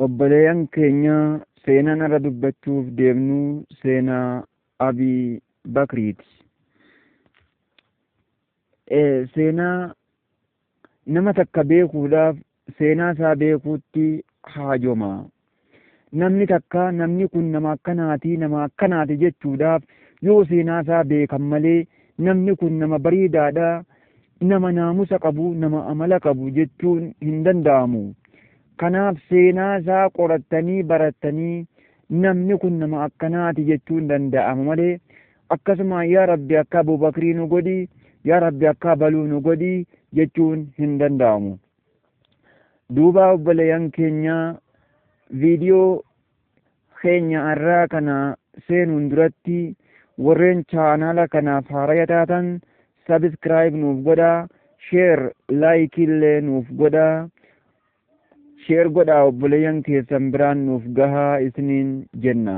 Obboleeyyan keenya seenaan irra dubbachuuf deemnu seenaa Abii Bakriiti. Seenaa nama takka beekuudhaaf seenaa isaa beekuutti haajoma. Namni takka namni kun nama akkanaati nama akkanaati jechuudhaaf yoo seenaa isaa beekan malee namni kun nama bareedaadha nama naamusa qabu, nama amala qabu jechuun hin danda'amu. Kanaaf seenaa isaa qorattanii barattanii namni kun nama akkanaati jechuun danda'ama malee akkasuma yaa rabbi akka abubakrii nu godhi yaa rabbi akka baluu nu godhi jechuun hin danda'amu. Duuba obboleeyyan keenyaa viidiyoo keenya arraa kana seenuun duratti warreen chaanaala kanaaf haaraya taatan sabiskiraayib nuuf godhaa sheer laayikiillee nuuf godhaa sheer godhaa obboleeyyan keessan biraan nuuf gahaa isiniin jenna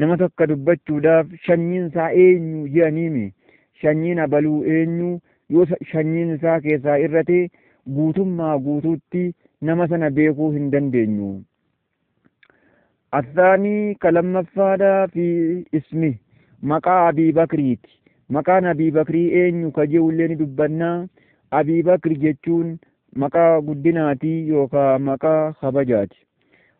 Nama tokko dubbachuudhaaf sanyiin isaa eenyu jedhaniimi. Sanyiin abaluu eenyu yoo sanyiin isaa keessaa irrate guutummaa guutuutti nama sana beekuu hin dandeenyu. Athaanii ka lammaffaadhaa fi ismi maqaa Abii Bakriiti. Maqaan Abii Bakrii eenyu ka je'ullee ni dubbanna. Abii Bakri jechuun maqaa guddinaati yookaan maqaa kabajaati.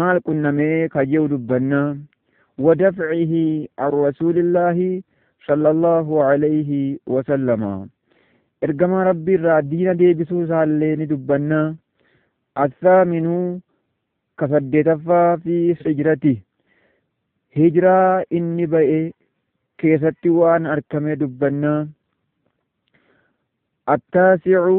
maal qunnamee kan je'u dubbanna wadafcihi an rasuulillaahi sallallahu alayhi wasallama ergamaa rabbii irraa diina deebisuu isaallee ni dubbanna athaaminu ka saddeetaffaa fi hijrati hijraa inni ba'e keessatti waan arkamee dubbanna attaasicu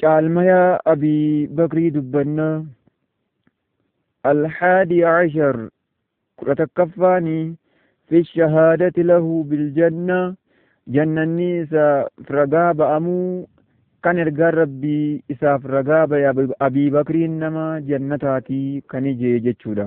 caalmaya abii bakrii dubbanna alhaadi cashar kudha takkaffaan fi shahaadati lahu biljanna jannanni isa ragaa ba'amuu kan ergaan rabbii isaaf ragaa ba'e abii bakriin nama jannataatii kan ijee jechuudha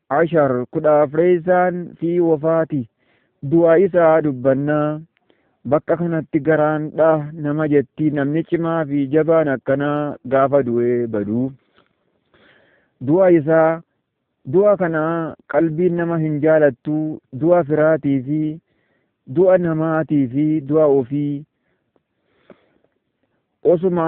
Ashar kudha afreessaan fi wafaati du'a isaa dubbanna. Bakka kanatti garaan dha nama jetti namni cimaa fi jabaan akkanaa gaafa du'ee badu. Du'a isaa du'a kana qalbiin nama hin jaalattu du'a firaatii fi du'a namaatii fi du'a ofii osuma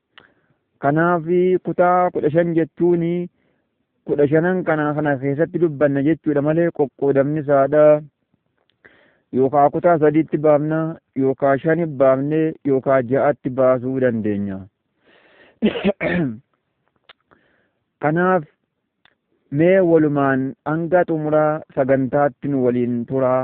Kanaaf kutaa kudha shan jechuun kudha shanan kana kana keessatti dubbanna jechuudha malee qoqqoodamni isaadha. Yookaa kutaa sadiitti baafna yookaa shani baafne yookaa ja'atti baasuu dandeenya. Kanaaf mee walumaan hanga xumuraa sagantaatti nu waliin turaa.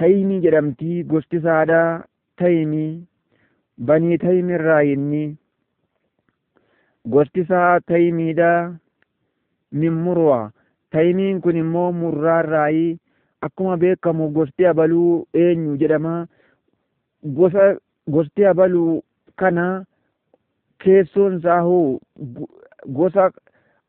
Tayimii jedhamti gosti saada Tayimii banii Tayim irraa inni gosti isaa Tayimiidha min murwa Tayimiin kun immoo murraa irraayi akkuma beekamu gosti abaluu eenyu jedhama gosa gosti abaluu kana keessoon isaa hoo gosa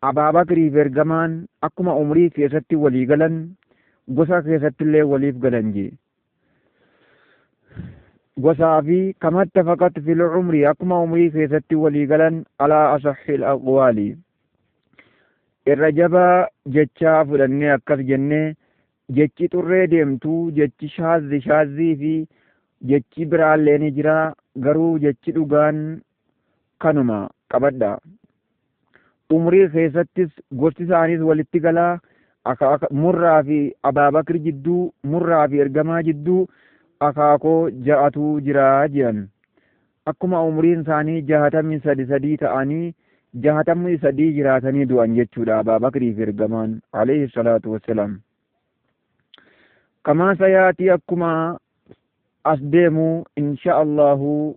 Abaabakriifi Ergamaan akkuma umrii keessatti walii galan gosa keessattillee waliif galan jee. Gosaafi kama ittafaqat fil umri akkuma umrii keessatti walii galan alaa asahhil aqwaali. Irra jabaa jechaa fudhannee akkas jennee jechi xurree deemtu jechi shaazzi shaazzii fi jechi biraallee ni jira garuu jechi dhugaan kanuma qabadhaa. Umrii keessattis gosti isaaniis walitti galaa aka aka murraa fi abaabakir jidduu murraa fi ergamaa jidduu akaakoo ja'atu jiraa jiran. Akkuma umriin isaanii jahatamii sadi sadii ta'anii jahatamii sadii jiraatanii du'an jechuudha abaabakirii fi ergamaan alayhi salaatu wassalaam. Kamaa sayaatii akkuma as deemu insha Allahu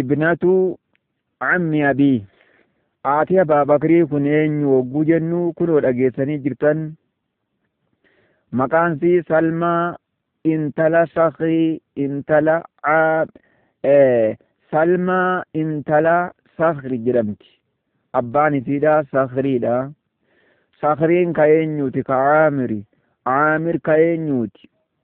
ibnatu cammi abii aati abaa bakrii kun eenyu hogguu jennu kunoo dhageessanii jirtan maqaan sii salmaa intala sakii intala salmaa intala sakri jedhamti abbaan isiidha sakriidha sakriin ka eenyuuti ka aamiri aamir ka eenyuuti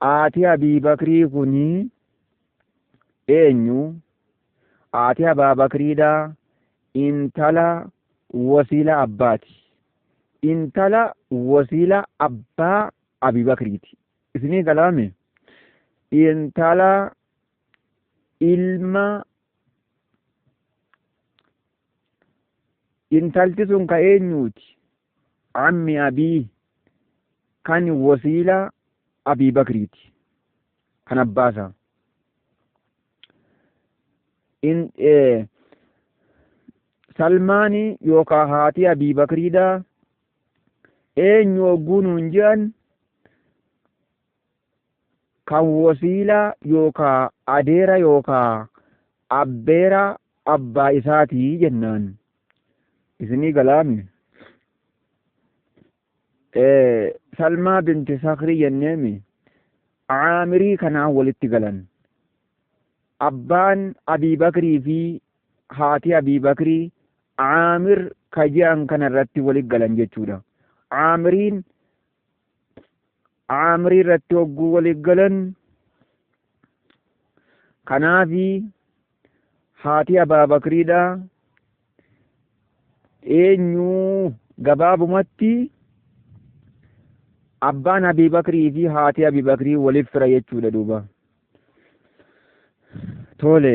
Haati Abii Bakrii kun eenyu? Haati Abaa Bakriidha. Intala wasiila abbaati. Intala wasiila abbaa Abii Bakriiti. Isinii galaame? Intala ilma intalti sun ka eenyuuti? Cammi Abii kan wasiila Abii Bakriiti. Kan abbaa isaa. In, eh, Salmaani yookaan haati Abii Bakriidha. Eenyu ogguun hin jiran kan wasiilaa yookaa adeera yookaa abbeeraa abbaa isaatii jennaan isinii galaami salmaa binti sakrii jenneemi caamirii kanaan walitti galan abbaan abii bakrii fi haati abii bakrii caamir ka je'an kana irratti walitti galan jechuudha caamiriin aamrii irratti hogguu walii galan kanaafi haati abaa bakriidha eenyuu gabaabumatti abbaan abii bakrii fi haati abii bakrii waliif fira jechuudha duuba tole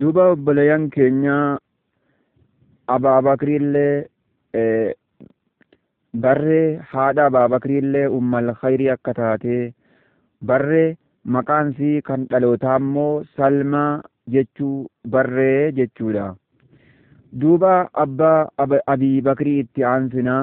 Duuba obboleeyyan keenya Abaabakriillee eh, barree haadha Abaabakriillee ummal khayrii akka taate barree maqaan isii kan dhalootaa immoo Salmaa jechuu barree jechuudha. Duuba abbaa Ab- Abii Bakrii itti aansinaa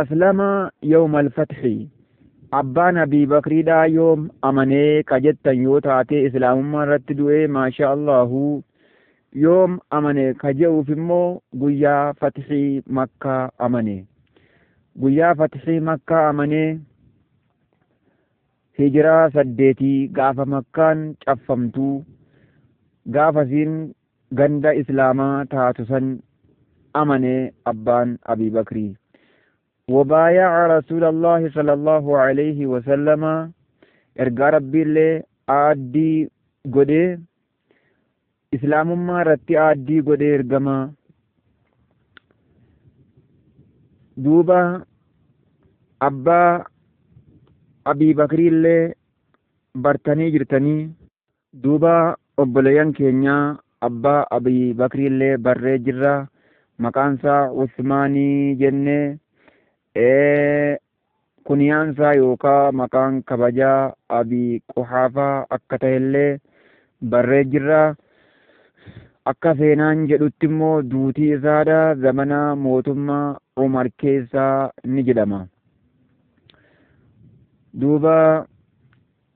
aslama yawma alfathi abbaan abii bakriidha yoom amanee ka jettan yoo taatee islaamummaa irratti du'ee maashaa allahu yoom amane ka je'uuf immoo guyyaa fatihii makkaa amane guyyaa fatihii makkaa amane hijiraa saddeetii gaafa makkaan caffamtuu gaafa isiin ganda islaamaa taatu san amane abbaan abii bakrii wabaaya'a rasuulallaahi sallallahu alayhi wasallama ergaa rabbiillee aaddii godhee islaamummaa irratti aaddii godhee ergama duuba abbaa abii bakriillee bartanii jirtanii Duuba obboleeyyan keenya abbaa Abii Bakriillee barree jirra, maqaansaa Usmaanii jenne, ee kuniyaansaa yookaa maqaan kabajaa Abii Quhaafaa akka tahellee barree jirra. Akka seenaan jedhutti immoo duutii isaadha zamana mootumma Umar keessa ni jedhama. Duuba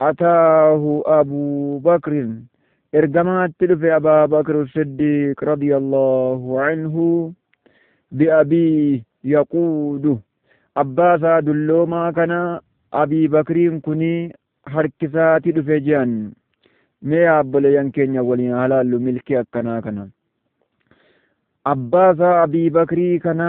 Ataahu Abuu Bakrin, Ergamaatti dhufe Abaa Bakr Siddiiq radiyallaahu anhu bi'abii yaquudu, abbaa isaa dulloomaa kana Abii Bakriin kuni harkisaati dhufe je'an. Mee yaa obboleeyyan keenya waliin haa laallu milkii akkanaa kana. Abbaa isaa Abii Bakrii kana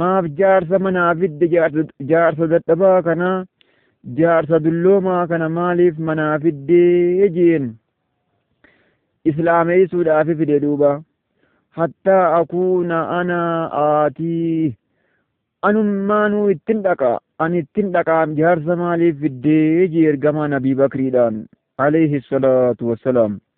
Maaf jaarsa manaa fidde jaarsa, jaarsa dadhabaa kana jaarsa dulloomaa kana maaliif manaa fiddee jeen islaameessuudhaaf fide duuba hattaa akuuna ana aatii anummaanuu ittin dhaqa ani ittin dhaqaa jaarsa maaliif fiddee jee ergamaan abii bakriidhaan alayhi salaatu wassalaam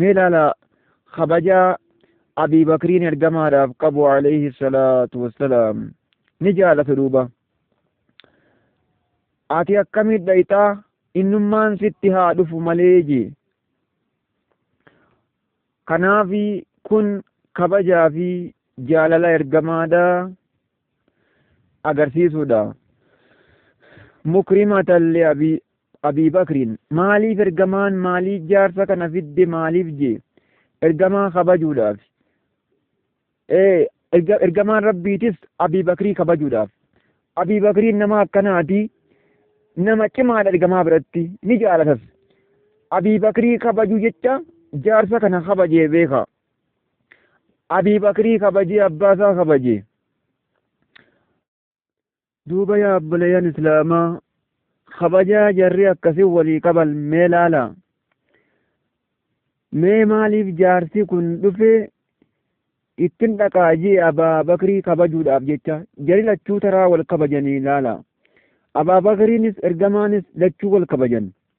mee laala kabaja abii bakriin ergamaadhaaf qabu alayhi salaatu wassalaam ni jaalatu duuba ati akkamit dhayxaa innummaan sitti haa dhufu malee jee kanaafi kun kabajaa fi jaalala ergamaadha agarsiisuudha. Mukrimatan li Abii Abii Bakriin maaliif ergamaan maalii jaarsa kana fidde maaliif jee ergamaa kabajuudhaaf ee erga- ergamaan rabbiitis Abii Bakrii kabajuudhaaf Abii Bakriin nama akkanaati nama cimaadha ergamaa biratti ni jaalatas Abii Bakrii kabajuu jecha jaarsa kana kabajee beeka Abii Bakrii kabajee abbaa isaa kabaje. Duuba yaa obboleeyyan Islaamaa kabajaa jarri akkasii walii qaban mee laala. Mee maaliif jaarsi kun dhufee ittin dhaqaa jee abaa bakrii kabajuudhaaf jecha jari lachuu taraa wal kabajanii laala. Abaa bakriinis ergamaanis lachuu wal kabajan.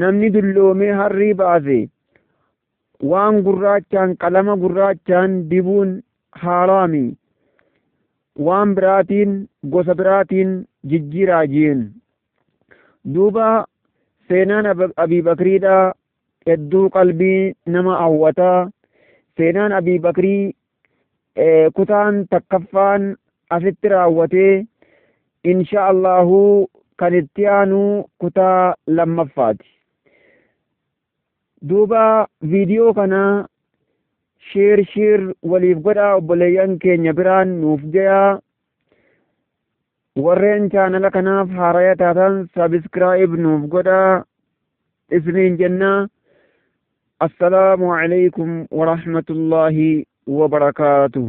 namni dulloomee harrii baase waan gurraachaan qalama gurraachaan dibuun haaraami waan biraatiin gosa biraatiin jijjiiraa jeen duuba seenaan abii bakriidha hedduu qalbii nama hawwataa seenaan abii bakrii kutaan takkaffaan asitti raawwatee insha Allahu kan itti aanu kutaa lammaffaati. Duuba viidiyoo kana sheer sheer waliif godhaa obboleeyyan keenya biraan nuuf gayaa. Warreen chaanala kanaaf haaraya taatan sabiskiraayib nuuf godhaa isiniin jenna. Assalaamu alaikum warahmatullaahi wabarakaatuh.